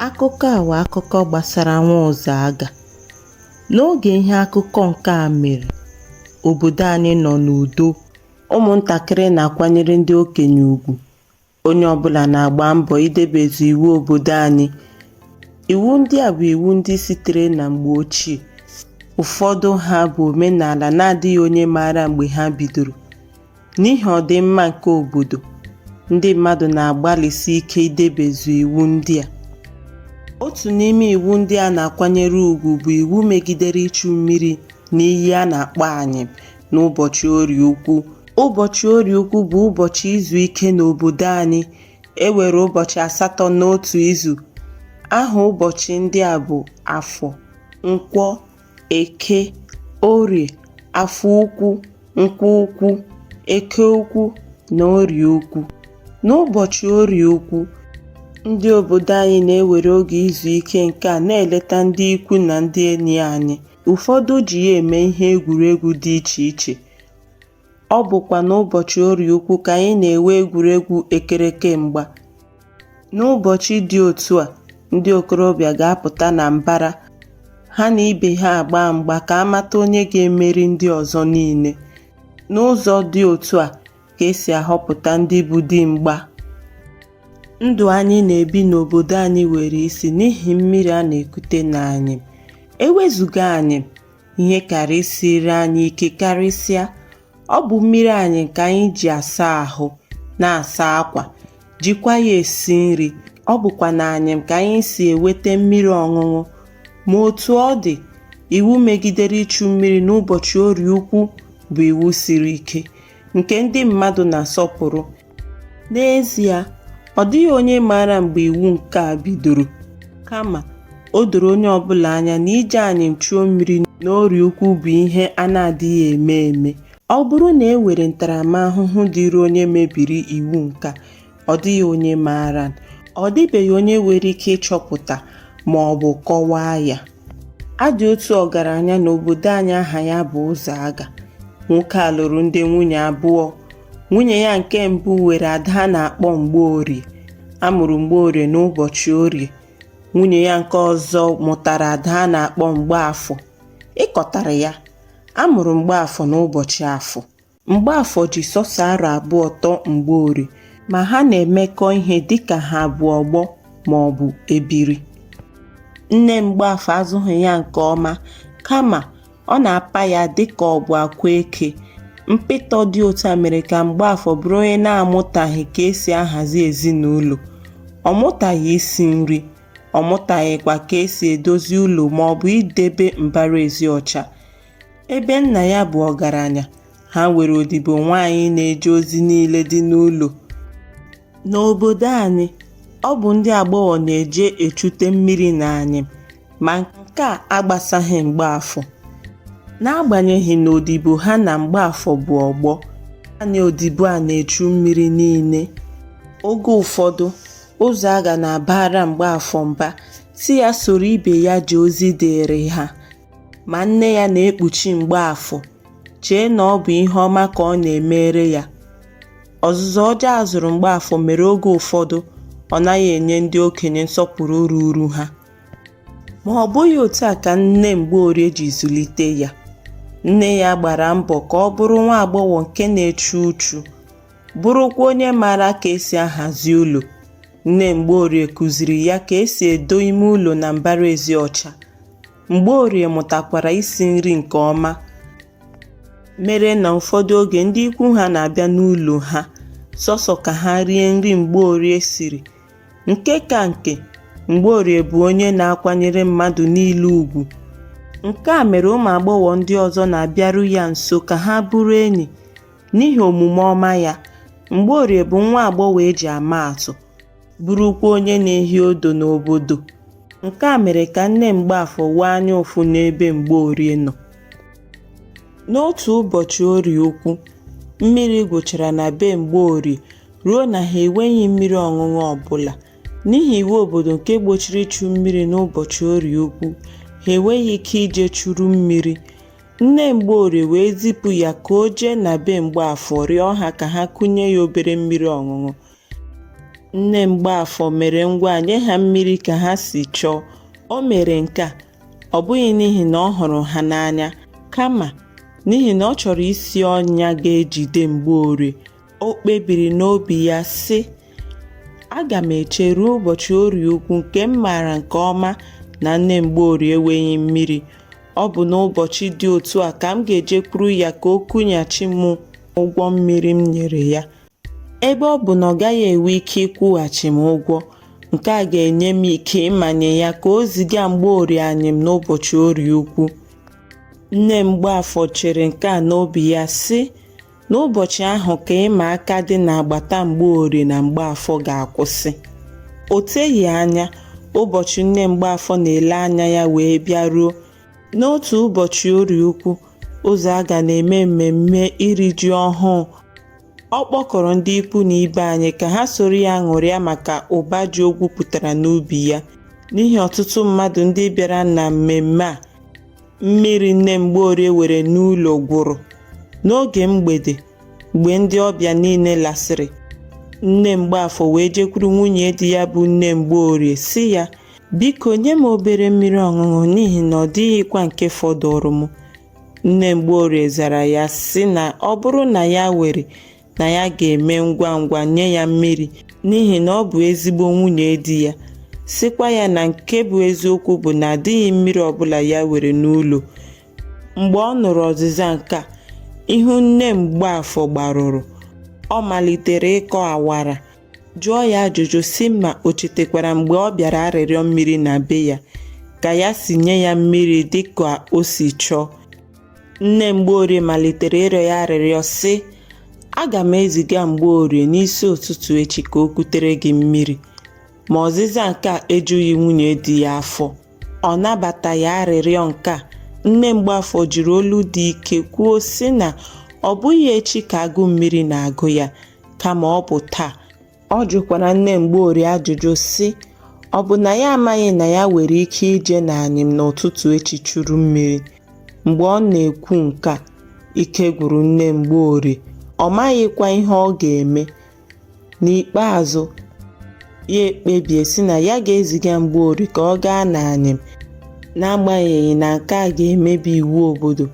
Akụkọ a wụ akụkọ gbasara nwa Ụzọaga. N'oge ihe akụkọ nke a mere, obodo anyị nọ n'udo. Ụmụntakịrị na-akwanyere ndị okenye ugwu. Onye ọbụla na-agba mbọ idebezu iwu obodo anyị. Iwu ndị a bụ iwu ndị sitere na mgbe ochie. Ụfọdụ ha bụ omenala na-adịghị onye maara mgbe ha bidoro. N'ihi ọdịmma nke obodo, ndị mmadụ na-agbalịsi ike idebezu iwu ndị a. Otu n'ime iwu ndị a na-akwanyere ugwu bụ iwu megidere ichu mmiri n'iyi a na-akpọ Anyịm n'ụbọchị Orie Ukwu. Ụbọchị Orie Ukwu bụ ụbọchị izu ike n'obodo anyị. E nwere ụbọchị asatọ n'otu izu. Aha ụbọchị ndị a bụ Afọ, Nkwọ, eke orie afọ ukwu nkwọ ukwu eke ukwu na orie ukwu n'ụbọchị orie ukwu ndị obodo anyị na-ewere oge izu ike nke a na-eleta ndị ikwu na ndị enyi anyị ụfọdụ ji ya eme ihe egwuregwu dị iche iche Ọ bụkwa n'ụbọchị Orie Ukwu ka anyị na-enwe egwuregwu ekereke mgba. N'ụbọchị dị otu a, ndị okorobịa ga-apụta na mbara, ha na ibe ha agbaa mgba ka a mata onye ga-emeri ndị ọzọ niile. N'ụzọ dị otu a ka e si ahọpụta ndị bụ di mgba. Ndụ anyị na-ebi n'obodo anyị were isi n'ihi mmiri a na-ekute n'Anyịm. E wezuga Anyịm, ihe kaara isiri anyị ike karịsịa ọ bụ mmiri anyịm ka anyị ji asa ahụ na-asa akwa jikwa ya esi nri ọ bụkwa n'anyịm ka anyị si eweta mmiri ọṅụṅụ ma otu ọ dị iwu megidere ichu mmiri n'ụbọchị orie ukwu bụ iwu siri ike nke ndị mmadụ na-asọpụrụ N'ezie, ọ dịghị onye maara mgbe iwu nke a bidoro, kama o doro onye ọ bụla anya na ije Anyịm chuo mmiri n'Orie Ukwu bụ ihe a na-adịghị eme eme. Ọ bụrụ na e were ntaramahụhụ dịrị onye mebiri iwu nke a, ọ dịghị onye maara. Ọ dịbeghị onye nwere ike ịchọpụta ma ọ bụ kọwaa ya. A dị otu ọgaranya n'obodo anyị aha ya bụ Ụzọaga. Nwoke a lụrụ ndị nwunye abụọ. Nwunye ya nke mbụ were ada a na-akpọ Mgbeorie. A mụrụ Mgbeorie n'ụbọchị Orie. Nwunye ya nke ọzọ mụtara ada a na-akpọ Mgbeafọ. Ị kọtara ya, a mụrụ Mgbeafọ n'ụbọchị Afọ. Mgbeafọ ji sọsọ arọ abụọ tọọ Mgbeorie ma ha na-emekọ ihe dịka ha bụ ọgbọ ma ọ bụ ebiri. Nne Mgbeafọ azụghị ya nke ọma kama Ọ na-apa ya dịka ọ bụ akwa eke. Mpịtọ dị otu a mere ka Mgbeafọ bụrụ onye na-amụtaghị ka e si ahazi ezinụlọ. Ọ mụtaghị isi nri, ọ mụtaghịkwa ka e si edozi ụlọ maọbụ idebe mbara ezi ọcha. Ebe nna ya bụ ọgaranya, ha nwere odibo nwaanyị na-eje ozi niile dị n'ụlọ. N'obodo anyị, ọ bụ ndị agbọghọ na-eje echute mmiri n'anyịm Ma nke a agbasaghị Mgbeafọ. N'agbanyeghị na odibo ha na Mgbeafọ bụ ọgbọ, naanị odibo a na-echu mmiri niile. Oge ụfọdụ, Ụzọaga na-abara Mgbeafọ mba sị ya soro ibe ya jee ozi dịịrị ha. Ma nne ya na-ekpuchi Mgbeafọ, chee na ọ bụ ihe ọma ka ọ na-emere ya. Ọzụzụ ọjọọ a zụrụ Mgbeafọ mere oge ụfọdụ ọ naghị enye ndị okenye nsọpụrụ ruuru ha. Ma ọ bụghị otu a ka nne Mgbeorie ji zụlite ya. Nne ya gbara mbọ ka ọ bụrụ nwa agbọghọ nke na-echu uchu, bụrụkwa onye maara ka e si ahazi ụlọ. Nne Mgbeorie kụziri ya ka e si edo ime ụlọ na mbara ezi ọcha. Mgbeorie mụtakwara isi nri nke ọma mere na ụfọdụ oge ndị ikwu ha na-abịa n'ụlọ ha sọsọ ka ha rie nri Mgbeorie siri Nke ka nke, Mgbeorie bụ onye na-akwanyere mmadụ niile ugwu. Nke a mere ụmụ agbọghọ ndị ọzọ na-abịaru ya nso ka ha bụrụ enyi n'ihi omume ọma ya. Mgbeorie bụ nwa agbọghọ e ji ama atụ, bụrụkwa onye na-ehi odo n'obodo. Nke a mere ka nne Mgbeafọ nwee anya ụfụ n'ebe Mgbeorie nọ. N'otu ụbọchị orie ukwu, mmiri gwụchara na be Mgbeorie, ruo na ha enweghị mmiri ọṅụṅụ ọbụla. N'ihi iwu obodo nke gbochiri ichu mmiri n'ụbọchị orie ukwu, ha enweghị ike ije churu mmiri. Nne Mgbeorie wee zipụ ya ka o jee na be Mgbeafọ rịọ ha ka ha kunye ya obere mmiri ọṅụṅụ. Nne Mgbeafọ mere ngwa nye ha mmiri ka ha si chọọ. O mere nke a, ọ bụghị n'ihi na ọ hụrụ ha n'anya, kama n'ihi na ọ chọrọ isi ọnya ga-ejide Mgbeorie O kpebiri n'obi ya, sị, Aga m eche ruo ụbọchị orie ukwu nke m maara nke ọma na nne Mgbeorie enweghị mmiri. Ọ bụ n'ụbọchị dị otu a ka m ga-ejekwuru ya ka o kunyeghachi m ụgwọ mmiri m nyere ya. Ebe ọ bụ na ọ gaghị enwe ike ịkwụghachi m ụgwọ, nke a ga-enye m ike ịmanye ya ka o ziga Mgbeorie anyịm n'ụbọchị orie ukwu. Nne Mgbeafọ chere nke a n'obi ya, sị, N'ụbọchị ahụ ka ịma aka dị n'agbata Mgbeorie na Mgbeafọ ga-akwụsị. O teghị anya, ụbọchị nne Mgbeafọ na-ele anya ya wee bịaruo. N'otu ụbọchị Orie ukwu, Ụzọaga na-eme mmemme iri ji ọhụụ, ọ kpọkọrọ ndị ikwu na ibe anyị ka ha soro ya ṅụrịa maka ụba ji o gwupụtara n'ubi ya. N'ihi ọtụtụ mmadụ ndị bịara na mmemme a, Mmiri nne Mgbeorie were n'ụlọ gwụrụ. N'oge mgbede, mgbe ndị ọbịa niile lasịrị, nne Mgbeafọ wee jekwuru nwunye di ya bụ nne Mgbeorie sị ya, Biko nye m obere mmiri ọṅụṅụ n'ihi na ọ dịghịkwa nke fọdụụrụ m. Nne Mgbeorie zara ya sị na ọ bụrụ na ya were na ya ga-eme ngwa ngwa nye ya mmiri n'ihi na ọ bụ ezigbo nwunye di ya sịkwa ya na nke bụ eziokwu bụ na adịghị mmiri ọbụla ya were n'ụlọ mgbe ọ nụrụ ọzịza nke a ihu nne Mgbeafọ gbarụrụ ọ malitere ịkọ awara jụọ ya ajụjụ sị ma o chetekwara mgbe ọ bịara arịrịọ mmiri na be ya ka ya si nye ya mmiri dịka o si chọọ Nne Mgbeorie malitere ịrịọ ya arịrịọ sị, Aga m eziga Mgbeorie n'isi ụtụtụ echi ka o kutere gị mmiri. Ma ọzịza nke a ejughị nwunye di ya afọ. Ọ nabataghị arịrịọ nke a. Nne Mgbeafọ jiri olu dị ike kwuo sị na ọ bụghị echi ka agụụ mmiri na-agụ ya, kama ọ bụ taa. Ọ jụkwara nne Mgbeorie ajụjụ sị, ọ bụ na ya amaghị na ya nwere ike ije n'anyịm n'ụtụtụ echi churu mmiri? Mgbe ọ na-ekwu nke a, ike gwụrụ nne Mgbeorie, ọ maghịkwa ihe ọ ga-eme. N'ikpeazụ, ya ekpebie sị na ya ga-eziga Mgbeorie ka ọ gaa n'anyịm n'agbanyeghị na nke a ga-emebi iwu obodo.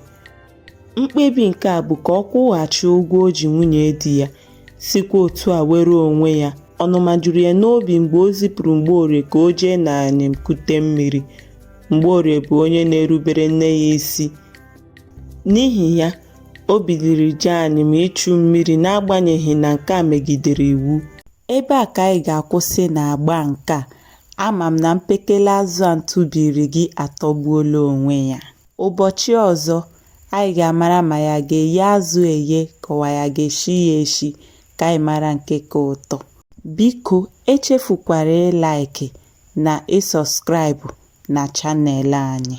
Mkpebi nke a bụ ka ọ kwụghachi ụgwọ o ji nwunye di ya, sikwa otu a were onwe ya. Ọnụma juru ya n'obi mgbe o zipụrụ Mgbeorie ka o jee n'anyịm kute mmiri. Mgbeorie bụ onye na-erubere nne ya isi. N'ihi ya, o biliri jee anyịm ichu mmiri n'agbanyeghị na nke a megidere iwu. Ebe a ka anyị ga-akwụsị n'agba nke a. Ama m na mpekele azụ a m tụbiiri gị atọgbuola onwe ya. Ụbọchị ọzọ, anyị ga-amara ma ya ga-eye azụ eye ka ọ bụ ya ga-eshi ya eshi ka anyị mara nke ka ụtọ. Biko echefukwara ịlaịkị na ịsọskraịbụ na chanel anyị.